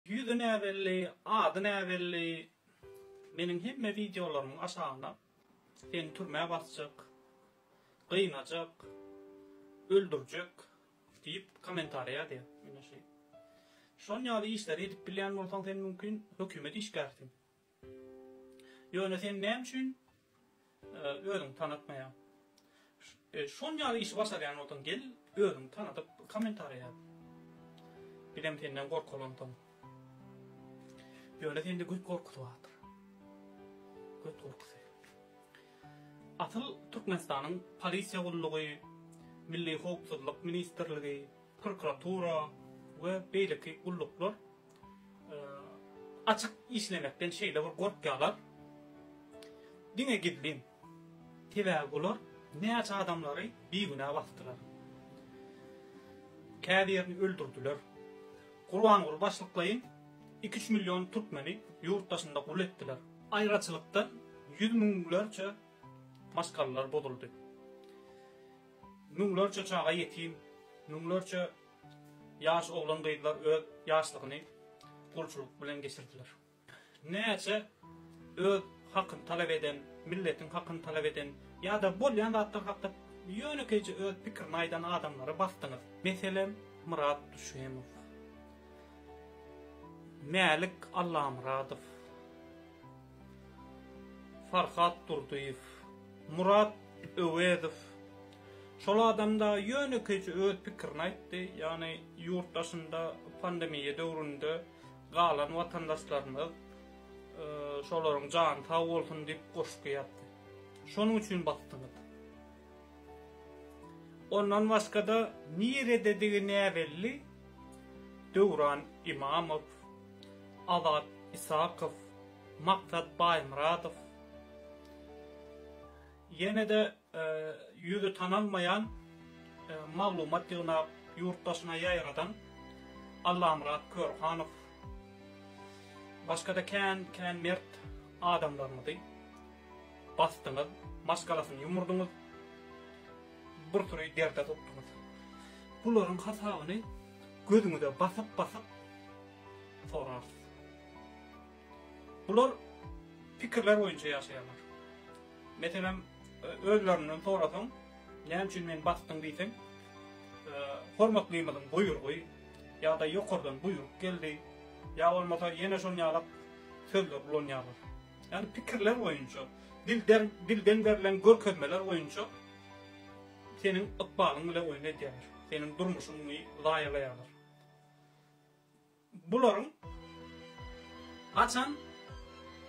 Ýüzi näbelli, ady näbelli. Meniň hemme wideolarymyň aşagyna seni türmä basjak, gynajak, öldürjek diýip kommentariýa ýazýar. Ine şeýle. Şon ýaly işleri edip bilýän bolsaň sen mümkin hökümet işgärisiň. Ýöne sen näme üçin özüňi tanatmaýaň? Şon ýaly işi başarýan bolsaň gel özüňi tanadyp kommentariýa ýaz. Bizem senden gorkaly onsoň. Ýöne sende göt gorkusy bardyr. Göt gorkusy. Asyl Türkmenistanyň polisiýa gullugy, Milli howpsuzlyk ministrligi, prokuratura we beýleki gulluklar Açyk işlemekden şeýle bir gorkýarlar. Diňe gizlin. Sebäbi bular näçe adamlary bigünä basdylar. Käbirini öldürdiler. Gurbanguly başlyklaýyn iki-üç million türkmeni ýurt daşynda gul etdiler. Aýraçylykdan ýüz müňlerçe maşgalalar bozuldy. Müňlerçe çaga ýetim, müňlerçe Ýaş oglan-gyzlar öz ýaşlygyny gulçulyk bilen geçirdiler. Näçe öz hakyny talap eden, milletiň hakyny talap eden ýa-da bolýan zatlar hakda ýönekeýje öz pikirini aýdan adamlary basdyňyz. Meselem, Myrat Düşemow, Mälik Allamyradow, Farhat Durdyýew, Murat Öwezow şol adamda ýönekeýje öz pikirini aýtdy, ýagny ýurt daşynda pandemiýa döwründe galan watandaşlarymyz şolaryň jany sag bolsun diýip goşgy ýazdy. Şonuň üçin basdyňyz. Ondan başga-da nirededigi näbelli Döwran Imamow, Azat Isakow, Maksat Baýmyradow, ýene-de ýüzi tanalmaýan maglumat ýygnap, ýurt daşyna ýaýradan Allamyrat Körhanow, başga-da kän-kän mert adamlarymyzy basdyňyz, maşgalasyny ýumurdyňyz. bir süri derde tutduňyz. Bularyň hasabyny gözüňize basyp-basyp sorarsyňyz. Bular pikirler boýunça ýaşaýarlar. Meselem, özlerinden sorasaň, näme üçin men basdyň diýseň, hormatlymyzyň buýurgy ýa-da ýokardan buýruk geldi, ýa bolmasa ýene şon ýalak sözler ulanýarlar. Ýagny pikirler boýunça, dilden dilden berlen görkezmeler boýunça seniň ykbalyň bilen oýun edýärler. Seniň durmuşyňy zaýalaýarlar. Bularyň haçan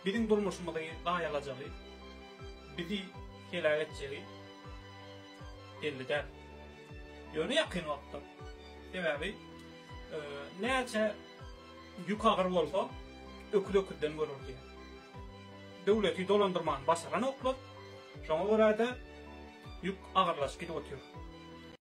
biziň durmuşymyzy zaýalajagy, bizi heläk etjegi belli däl. Ýöne ýakyn wagtda. Sebäbi e, näçe Ýük agyr bolsa, öküz öküzden görür diýer. Döwleti dolandyrmany başaranoklar, şoňa görä-de, ýük agyrlaşyp gidip otyr.